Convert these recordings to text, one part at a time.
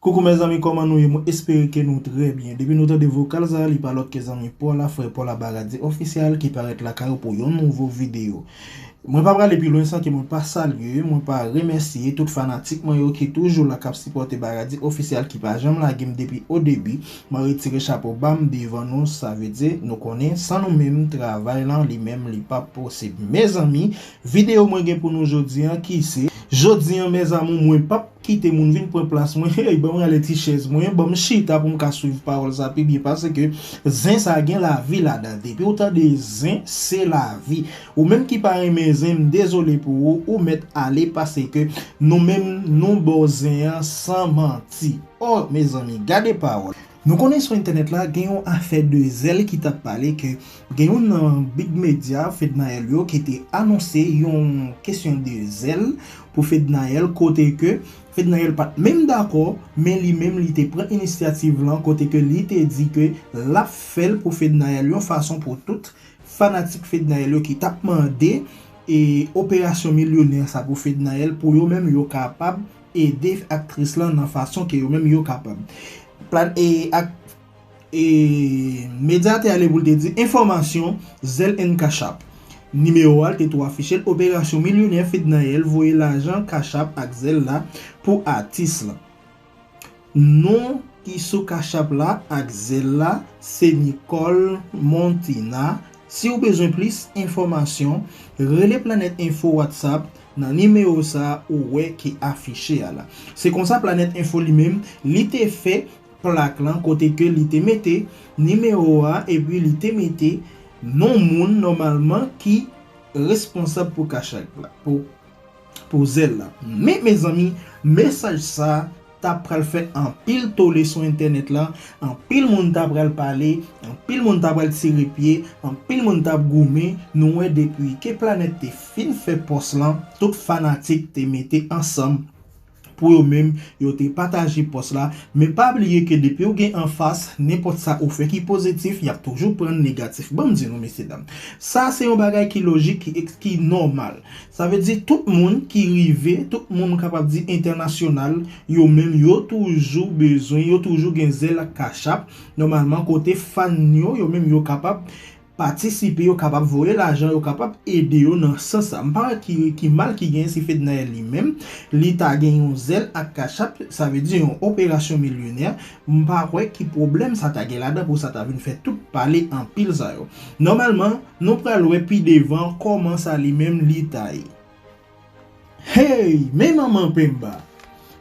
Coucou mes amis koman nou ye mwen espere ke nou trè byen depi nou tande vokal sa li pa lòt ke zanmi paw la frè paw la baradie official ki parèt lakay ou pou yon nouvo video mwen pa prale pi lwen san ke mwen pa salye mwen pa remèsye tout fanatik mwen yo ki toujou la kap sipòte baradie official ki pa janm lagem depi o debi mwen retire chapo bam devan nou sa vle di nou konnen san nou menm travay lan li menm li pap posib mezanmi Video mwen gen pou nou jodi an ki se. Jodi an mes amour mwen pap kite moun vin pran plas mwen heyy banm rale ti chèz mwen banm chita poum ka swiv pawòl sa pi byen paske zen sa gen lavi ladan depiw tande zen se lavi ou menm ki pa renmen zen m dezole pou ou ou mèt ale paseke nou menm nou baw zen an san manti oh mezanmi gade pawòl. Nou konnen sou entènèt la gen yon afè de zèl ki tap pale ke gen youn nan big medya Fednaelle yo ki te anonse yon kesyon de zèl pou Fednaelle kote ke Fednaelle pat menm dakò men li menm li te pran inisyativ lan kote ke li te di ke lap fèl pou Fednaelle yon fason pou tout fanatik Fednaelle yo ki tap mande operasyon milyonè sa pou Fednaelle pou yo menm yo kapab ede aktris lan nan fason ke yo menm yo kapab. Plan e ak e Medya te ale pou l te di enfòmasyon Zelle and Cash App. Nimewo a te tou afiche l operasyon milyonè Fednaelle voye lajan Cash App ak Zelle la pou atis lan. Non ki sou cachapp la ak zelle la se Nicole Montina siw bezwen plis enfòmasyon rele Planet Info WhatsApp nan nimewo sa ou wè ki afiche a la se konsa Planet Info li menm li te fè plak lan kote ke li te mete nimewo a epi li te mete non moun nòmalman ki responsab pou cachapp la pou Pou zèl la. Men mezanmi mesaj sa ta pral fè anpil tole sou entènèt la, anpil moun ta pral pale, anpil moun ta pral tire pye, anpil moun t ap goumen, nou wè depi ke Planèt te fin fè pòs lan, tout fanatik te mete ansanm Pou yo menm, yo te pataje pòs la, men pa bliye ke depi ou gen anfas, nenpòt sa ou fè ki pozitif, y ap toujou pran negatif. Ban m di nou, mesye dam, sa se yon bagay ki lojik, ki eks, ki nòmal. Sa vle di tout moun ki rive, tout moun m kapab di entènasyonal, yo menm yo toujou bezwen, yo toujou gen zèl ak kachap, nòmalman kote fan yo, yo menm yo kapab, Patisipe yo kapab voye lajan yo kapab ede yo nan sans sa m pa wè ki ki mal ki genyen si Fednaelle li menm li ta gen yon zèl ak cachap sa vle di yon operasyon milyonè m pa wè ki pwoblèm sa ta gen ladan pou sa ta vin fè tout pale anpil sa yo nòmalman nou pral wè pi devan kòman sa li menm li ta ye. Hey men manman penmba.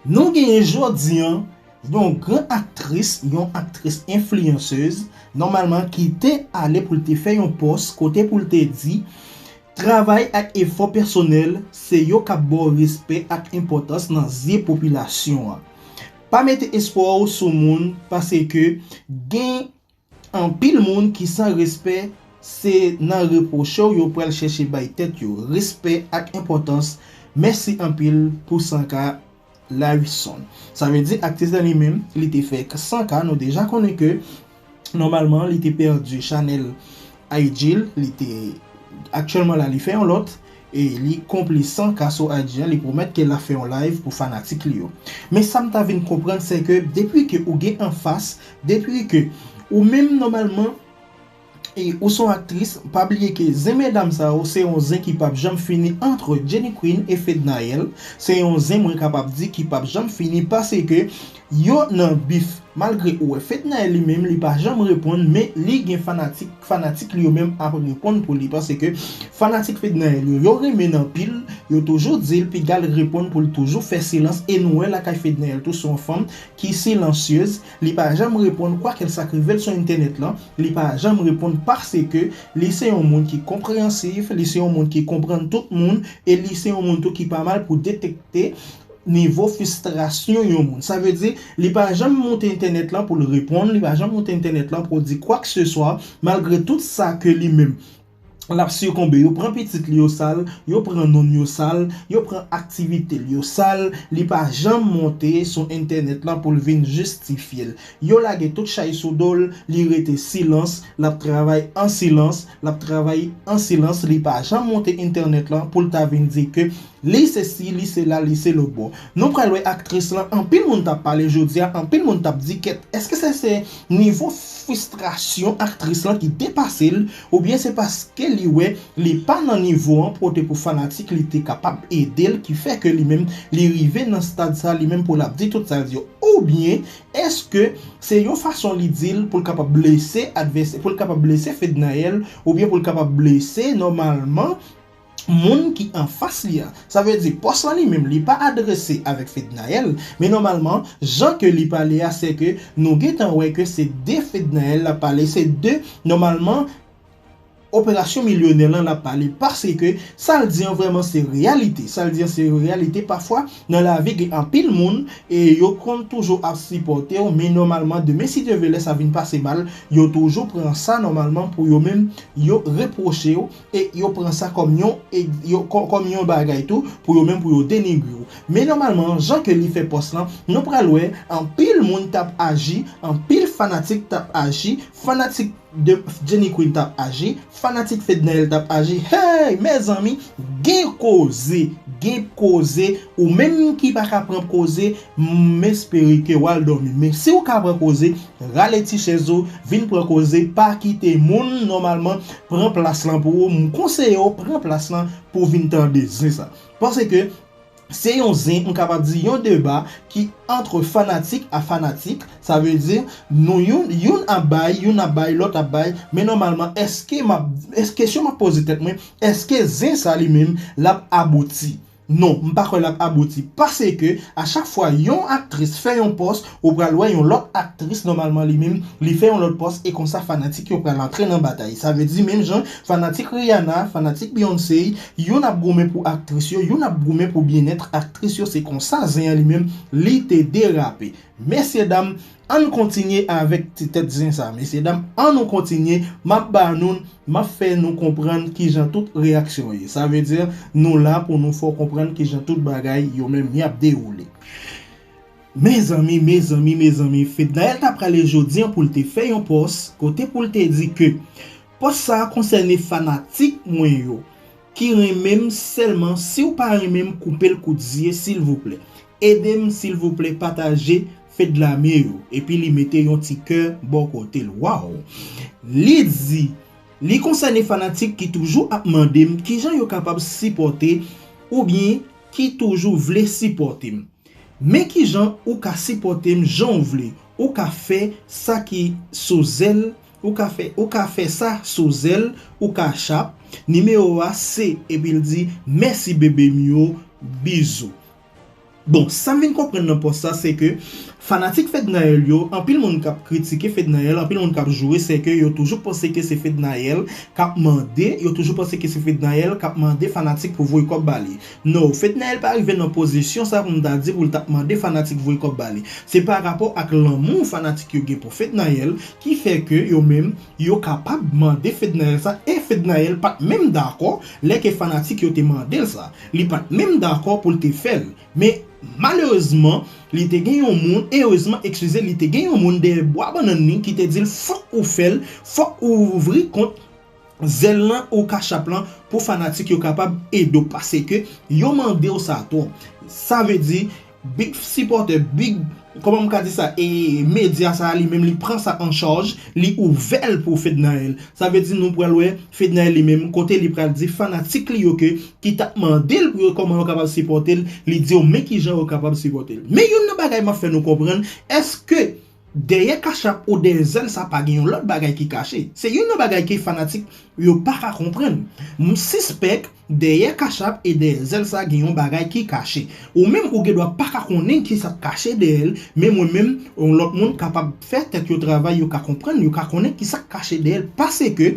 Nou genyen jodi an yon gran aktris, yon aktris enfliyansez nòmalman ki te ale pou l te fè yon pòs kote pou l te di Travay ak efò pèsonèl se yo k ap ba w respè ak enpòtans nan zye popilasyon an. Pa mete espwa w sou moun pase ke gen Anpil moun ki san respè se nan repwoche w yo pral chèche bay tèt yo respè ak enpòtans mèsi anpil pou 100 k la ui son sa vle di aktis la li menm li te fè 100 k nou deja konnen ke nòmalman li te pèdi chanèl IG l li te aktyèlman la li fè yon lòt E li konplisan ka sou IG an li pwomèt ke lap fè yon live pou fanatik li yo. Men sam ta vin konprann sè ke depi ke ou gen anfas, depi ke ou menm nòmalman e ou son aktris, pa bliye ke zen medam sa yo se yon zen ki pap janm fini antre Jenny Queen e Fednaelle, se yon zen mwen kapab di ki pap janm fini pase ke Yo nan bif. Malgre ou wè Fednaelle li menm li pa janm reponn men li gen fanatik, fanatik li yo menm ap reponn pou li paske fanatik Fednaelle yo, yo renmenn anpil, yo toujou dil pigal reponn poul toujou fè silans e nou wè lakay Fednaelle tou se yon fanm ki silansyez, li pa janm reponn kwa kel sak rivel sou entènèt lan, li pa janm reponn paske li se yon moun ki konpreyansif, li se yon moun ki konprann tout moun e li se yon moun tou ki pa mal pou detekte. Nivo fistrasyon yon moun. Sa vle di, li pa janm moute entènèt lan pou l reponn, li pa janm moute entènèt lan pou l di kwakseswa, malgre tout sa ke li menm l ap sikonbe. Yo pran pitit li yo sal, yo pran non l yo sal, yo pran aktivite l yo sal, li pa janm monte sou entènèt lan pou l vin jistifye l. Yo lage tout chay sou do l, li rete silans, l ap travay an silans, l ap travay an silans, li pa janm monte entènèt lan pou l ta vin di ke Li se si, li se la, li se lobo. Nou pral wè aktris lan anpil moun tap pale jodia anpil moun tap di kèt eske se se nivo fristrasyon aktris lan ki depase l oubyen se paske li wè li pa nan nivo an pou te pou fanatik li te kapab ede l ki fè ke li menm li rive nan stad sa li menm pou lap di tout sa l di yo oubyen eske se yon fason li di l pou l kapab blese advèsè pou l kapab blese Fednaelle oubyen pou l kapab blese nòmalman moun ki anfas li a. Sa vle di pòs lan li menm li pa adrese avèk Fednaelle, men nòmalman jan ke li pale a se ke nou gentan wè ke se de Fednaelle lap pale, se de nòmalman operasyon milyonè lan lap pale paske sa l di an vrèman se reyalite, sa l di an se reyalite pafwa nan lavi gen anpil moun e yo konn toujou ap sipòte w men nòmalman demen si Dye vle lè sa vin pase mal yo toujou pran sa nòmalman pou yo menm yo repwoche w E yo pran sa kòm yon kòm yon bagay tou pou yo menm pou yo denigre w. Men nòmalman jan ke li fè pòs lan, nou pral wè anpil moun t ap aji, anpil fanatik t ap aji, fanatik de Jenny Queen t ap aji, fanatik Fednaelle t ap aji. Heyy! Mezanmi gen koze! Gen koze! Ou menm ki pa ka pran koze, m espere ke w al dòmi. Men si w ka pran koze, rale ti chèz ou, vin pran koze, pa kite moun nòmalman pran plas lan pou ou, m konseye w pran plas lan pou w vin tande zen sa. Pase ke se yon zen, m kapab di yon deba ki antre fanatik a fanatik, sa vle di nou youn, youn ap bay, youn ap bay, lòt ap bay, men nòmalman eske m ap, kesyon m ap poze tèt mwen, eske zen sa li menm l ap abouti? Non, m pa kwè lap abouti paske a chak fwa yon aktris fè yon pòs ou pral wè yon lòt aktris nòmalman li menm li fè yon lòt pòs e konsa fanatik yo pral antre nan batay sa vle di menm jan fanatik Rihanna fanatik Beyoncé youn ap goumen pou aktris yo youn ap goumen pou byenèt aktris yo se konsa zen an li menm li te derape mesye dam Ann kontinye avèk ti tèt zen sa mesye dam an nou kontinye map ba noun map fè nou konprann kijan tout reyaksyon ye sa vle di nou la pou nou fè w konprann kijan tout bagay yo menm yap dewoule mezanmi mezanmi mezanmi Fednaelle ta prale jodi an poul te fè yon pòs kote poul te di ke pòs sa konsène fanatik mwen yo ki renmen m sèlman siw pa renmen m koupel kout zye silvouplè Edem silvouplè pataje fedlame yo epi li mete yon ti kè bò kotel waww li di li konsène fanatik ki toujou ap mandem kijan yo kapab sipòte oubyen ki toujou vle sipòtem men kijan ou ka sipòtem janw vle ou ka fè sa ki sou zèl ou ka fè ou ka fè sa sou zèl ou cash app nimewo a se epil di mèsi bebem yo bizou. Bon, sa m vin konprann nan pòs sa se ke fanatik Fednaelle yo, anpil moun k ap kritike Fednaelle, anpil moun k ap joure se ke yo toujou panse ke se Fednaelle k ap mande, yo toujou panse ke se Fednaelle k ap mande fanatik pou voye kòb ba li. No, Fednaelle pa rive nan pozisyon sa pou m ta di pou l t ap mande fanatik voye kòb ba li. Se pa rapò ak lanmou fanatik yo gen pou Fednaelle ki fè ke yo menm yo kapab mande Fednaelle sa e Fednaelle pa t menm dakò lè ke fanatik yo te mande l sa. Li pa t menm dakò pou l te fè l. Men, malerezman, li te gen yon moun, erezman, ekskize, li te gen yon moun dèyè bwa bannann li ki te di l, Fòk ou fè l, fòk ou ouvri kont Zèl lan ou Kachap lan pou fanatik yo kapab ede w, paseke yo mande w sa twòp. Sa vle di, Big sipòtè, big, kòman m ka di sa, e medya sa a li menm li pran sa an chaj, li ouvè l pou Fednaelle. Sa vle di nou pral wè Fednaelle li menm kote li pral di fanatik li yo ke ki tap mande l pou yo kòman yo kapab sipòte l, li di yo men kijan yo kapab sipòte l. Men youn nan bagay m ap fè nou konprann, èske Dèyè kachap ou dèyè zèl sa pa gen yon lòt bagay ki kache. Se youn nan bagay ke fanatik yo pa ka konprann. M sispèk dèyè kachap e dèyè zèl sa gen yon bagay ki kache. Ou menm ou gen dwa pa ka konnen ki sa k kache dèyè l, men mwen menm, yon lòt moun kapab fè tèt yo travay yo ka konprann, yo ka konnen ki sa k kache dèyè l paske,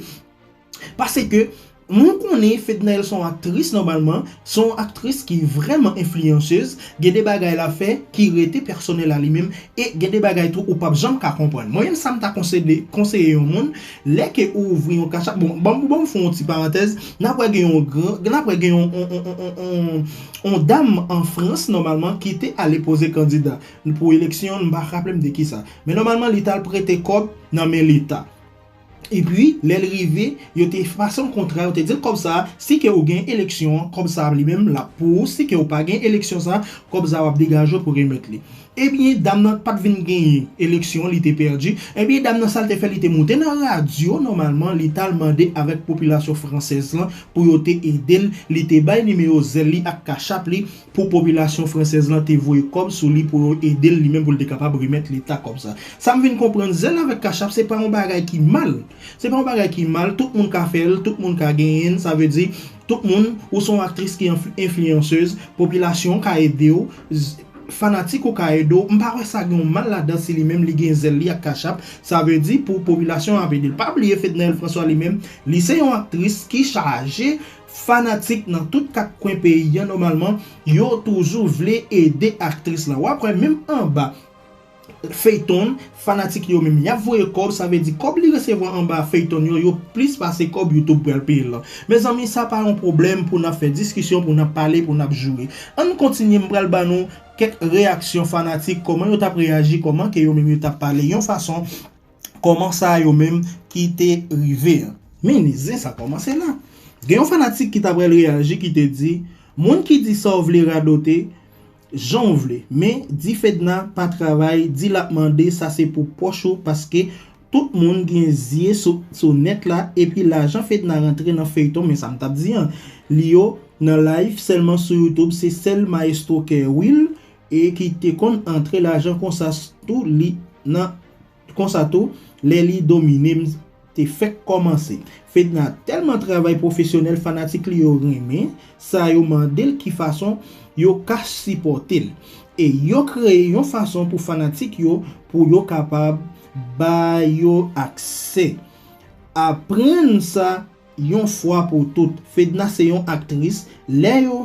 Pase ke mwen konnen Fednaelle son aktris nòmalman, son aktris ki vrèman enfliyansez, gen de bagay la fè ki rete pèsonèl a li menm e gen de bagay tou ou pap janm ka konprann. Mwen menm sa m ta konsede, konseye yon moun, lè ke ou ouvri yon cash app, bon ban m, ban m fè yon ti parantèz, nap wè gen yon gran, nap wè gen yon yon dam an Frans nòmalman ki te ale poze kandida pou eleksyon, m pa raple m de kisa. Men nòmalman li tal prete kòb nan men leta. Epi, lè l rive, yo te pase yon kontra, yo te di l kòb sa a, si ke ou gen eleksyon an, kòb sa a li menm l ap pou ou, si ke ou pa gen eleksyon sa a, kòb sa a w ap degaje w pou remèt li. Ebyen, dam nan pa t vin genyen eleksyon an, li te pèdi. Ebyen, dam nan sa l te fè, li te monte nan radyo nòmalman, li t al mande avèk popilasyon fransèz lan pou yo te ede l, li te bay nimewo zèl li ak kachap li, pou popilasyon fransèz lan te voye kòb sou li pou yo ede l li menm pou l te kapab remèt leta kòb sa. Sa m vin konprann zèl avèk kachap se pa yon bagay ki mal, se pa yon bagay ki mal, tout moun ka fè l, tout moun ka genyen l, sa vle di tout moun, ou se yon aktris ki enfliyansez, popilasyon ka ede w, fanatik ou ka ede w, m pa wè sa gen yon mal ladan si li menm li gen zèl li ak kachap, sa vle di pou popilasyon an ap ede l. Pa bliye Fednaelle François li menm, li se yon aktris ki chaje Fanatik nan tout 4 kwen peyi an nòmalman yo toujou vle ede aktris lan wap wè menm anba Feyton fanatik yo menm yap voye kòb sa vle di kòb li resevwa anba Feyton yo yo plis pase kòb YouTube pral peyel lan mezanmi sa pa yon pwoblèm pou nap fè diskisyon pou nap pale pou nap joure ann kontinye m pral ban nou kèk reyaksyon fanatik kòman yo tap reyaji kòman ke yo menm yo tap pale yon fason Koman sa yo menm ki te rive an. Men zen sa komanse la. Gen yon fanatik ki ta pral reyaji ki te di, moun ki di sa w vle radote jan w vle men di Fedna pa travay di l ap mande sa se pou pòch ou paske tout moun gen zye sou nèt la epi lajan Fedna rantre nan feyton men sa m t ap di an li yo nan live sèlman sou youtube se sèl maestro kè wil e ki te konn antre lajan konsa tou li nan konsa tou lè li domine m te fèk kòmanse Fedna tèlman travay pwofesyonèl fanatik li yo renmen sa yo mande l ki fason yo ka sipòte l e yo kreye yon fason pou fanatik yo pou yo kapab ba yo aksè aprann sa Yon fwa pou tout, Fedna se yon aktris, lè yo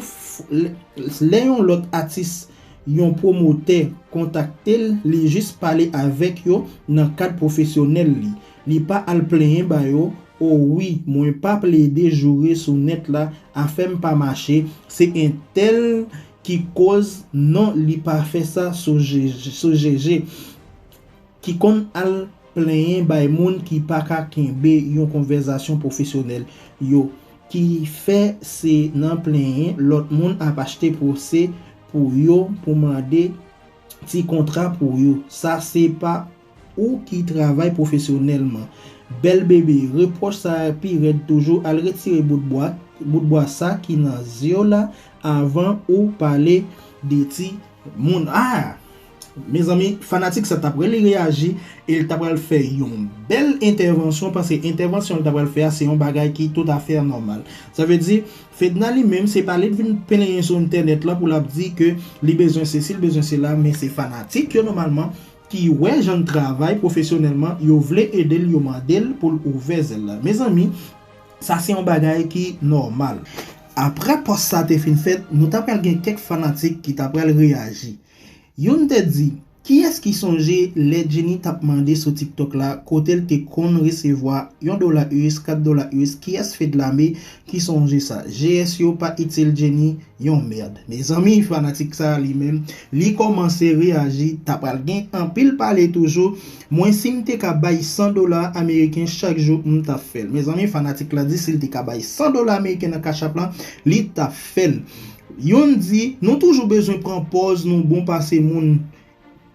lè yon lòt atis yon pwomotè kontakte l li jis pale avèk yo nan kad pwofesyonèl li, li pa al plenyen ba yo o wi mwen pa plede joure sou nèt la afè m pa mache se entèl ki koz non li pa fè sa sou jeje ki konn al Plenyen bay moun ki pa ka kenbe yon konvèzasyon pwofesyonèl yo, ki fè se nan plenyen lòt moun ap achte pwose pou yo pou mande ti kontra pou yo. Sa se pa ou ki travay pwofesyonèlman. Bèl bebe, repwòch sa a pi rèd toujou, al retire bout bwa, bout bwa sa ki nan zye w la avan ou pale de ti moun. Ah! Mezanmi fanatik sa ta pran li reyaji e li ta pral fè yon bèl entèvansyon m panse entèvansyon li ta pral fè a se yon bagay ki toutafè anòmal sa vle di Fedna li menm se pa li t vin plenyen sou entènèt lan pou l ap di ke li bezwen sesi li bezwen sela men se fanatik yo nòmalman ki wè jan l travay pwofesyonèlman yo vle ede l yo mande l pou l ouvè zèl la mezanmi sa se yon bagay ki nòmal. Aprè pòs sa te fin fèt nou ta pral gen kèk fanatik ki ta pral reyaji. Youn te di, Kiyès ki sonje lè Jenny tap mande sou tiktok la kotel te konn resevwa yon dola us, kat dola us kiyès fedlame ki sonje sa GS yo pa itil Jenny yon merd mezanmi fanatik sa li menm li kòmanse reyaji ta pral gen anpil pale toujou mwen sim te ka bay 100 dola ameriken chak jou m tap fèl mezanmi fanatik la di sil te ka bay 100 dola ameriken nan cash app lan li tap fèl Youn di, Nou toujou bezwen pran pòz nou bon pase moun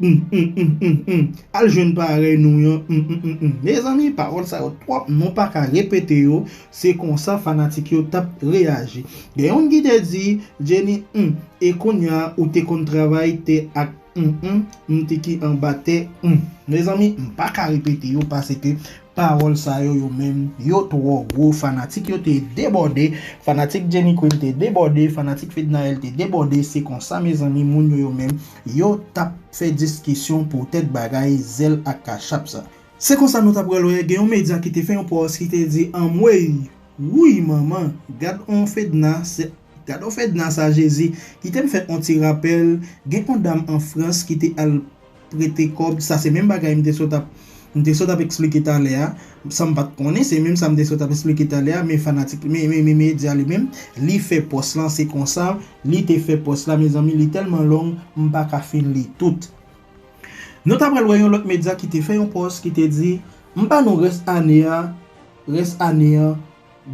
Hum hum hum hum hum Al jwenn parèy nou yon hum hum hum hum Mezanmi pawòl sa yo twòp nou pa ka repete yo Se konsa fanatik yo t ap reyaji Gen youn ki te di, Jenny hum E kounya ou te konn travay tè ak hum hum hum ti ki anba tè hum Mezanmi m pa ka repete yo paseke Pawòl sa yo yo menm yo twò gwo fanatik yo te debòde fanatik Jenny Queen te debòde fanatik Fednaelle te debòde se konsa mezanmi moun yo yo menm yo tap fè diskisyon poutèt bagay zèl ak kachap sa. Se konsa nou ta pral wè gen yon medya ki te fè yon pòs ki te di anmweyy wouy manman gad on Fedna se gad on Fedna sa Jezi kite m fè on ti rapèl gen on dam an Frans ki te al prete kòb sa se menm bagay m te sot ap m te sot ap esplike talè a san m pa t konnen se menm sa m te sot ap esplike talè a men fanatik men men men medya li menm li fè pòs lan se konsa li te fè pòs la mezanmi li tèlman long m pa ka fin li tout nou ta pral wè yon lòt medya ki te fè yon pòs ki te di m ba nou rès ane a rès ane an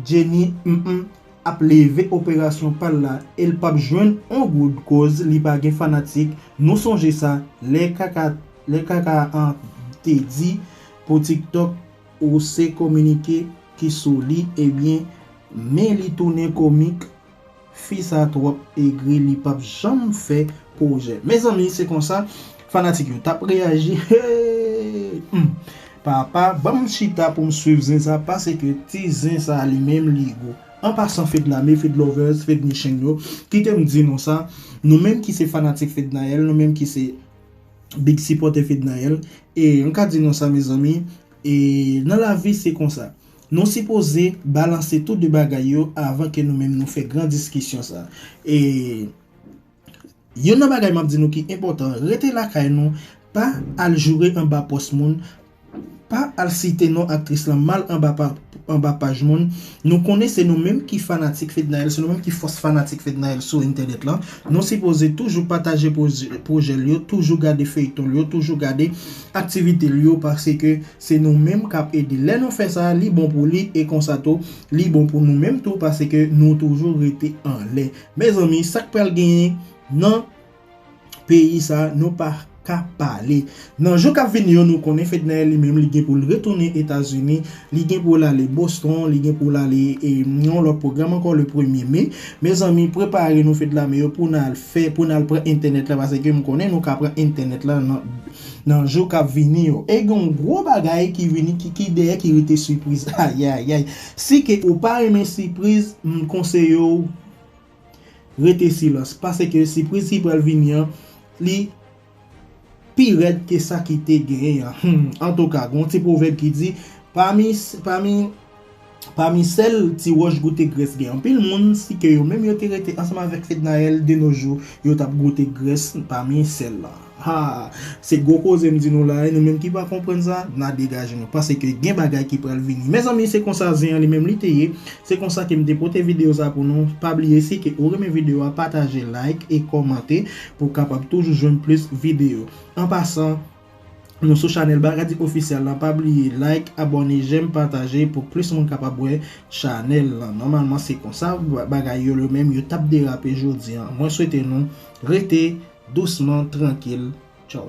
Jenny mph ap leve operasyon pal la el pap jwenn on goud koz li pa gen fanatik nou sonje sa lè kaka lè kaka an te di pou tiktok ou se kominike ki sou li ebyen men li tounen komik Fi sa trop egri li pap janm fè projè mezanmi se konsa fanatik yo tap reyaji hee m papa banm chita poum swiv zen sa paseke ti zen sa li menm li gou an pasan fedname fedlovers fednicheng yo kitem di nou sa nou menm ki se fanatik fednaelle nou menm ki se big sipòtè fednaelle e m ka di nou sa mezanmi e nan lavi se konsa Nou sipoze balanse tou 2 bagay yo avan ke nou menm nou fè gran diskisyon sa. E Youn nan bagay map di nou ki enpòtan, rete lakay nou, pa al joure anba pòs moun, pa al site non aktris lan mal anba paj moun, nou konnen se nou menm ki fanatik Fednaelle, se nou menm ki fòs fanatik Fednaelle sou entènèt lan, nou sipoze toujou pataje pwojè l yo, toujou gade feyton l yo, toujou gade aktivite l yo, paske Se nou menm kap ede. Lè nou fè sa, li bon pou li e konsa tou, li bon pou nou menm tou paske nou toujou rete anlè. Mezanmi, sak pral genyen nan peyi sa nou pa ka pale. Nan jou kap vini yo nou konnen Fednaelle li menm li gen pou l retounen Etazini, li gen pou l ale Boston, li gen pou l ale yon lòt pwogram ankò le premye me. Mezanmi, prepare nou Fedlame yo pou n al fè, pou n al pran entènèt la paske m konnen nou ka pran entènèt la nan. nan jou kap vini yo e gen yon gwo bagay ki vini ki dèyè ki rete sipriz ayayay si ke ou pa renmen sipriz m konseye w rete silans pase ke sipriz ki pral vini an li pi rèd ke sa ki te genyen an antouka gen yon ti pwovèb ki di pami pami Pami sèl ti wòch goute grès gen anpil moun si ke yo menm yo te rete ansanm avèk Fednaelle de nos jours yo tap goute grès pami sèl lan haa se gwo koze m di nou la wi nou menm ki pa konprann sa na degaje nou pase ke gen bagay ki pral vini mezanmi se konsa zen an li menm li te ye se konsa ke m te pote video sa pou nou pa bliye si ke ou renmen video a pataje like e kòmante pou kapab toujou jwenn plis video an pasan Nou sou chanèl Bacardi Official lan pa bliye like, abòne, jèm, pataje pou plis moun kapab wè chanèl lan. Nòmalman se konsa bagay yo menm yo tap derape jodi an. Mwen swete nou rete dousman trankil. Tchaww.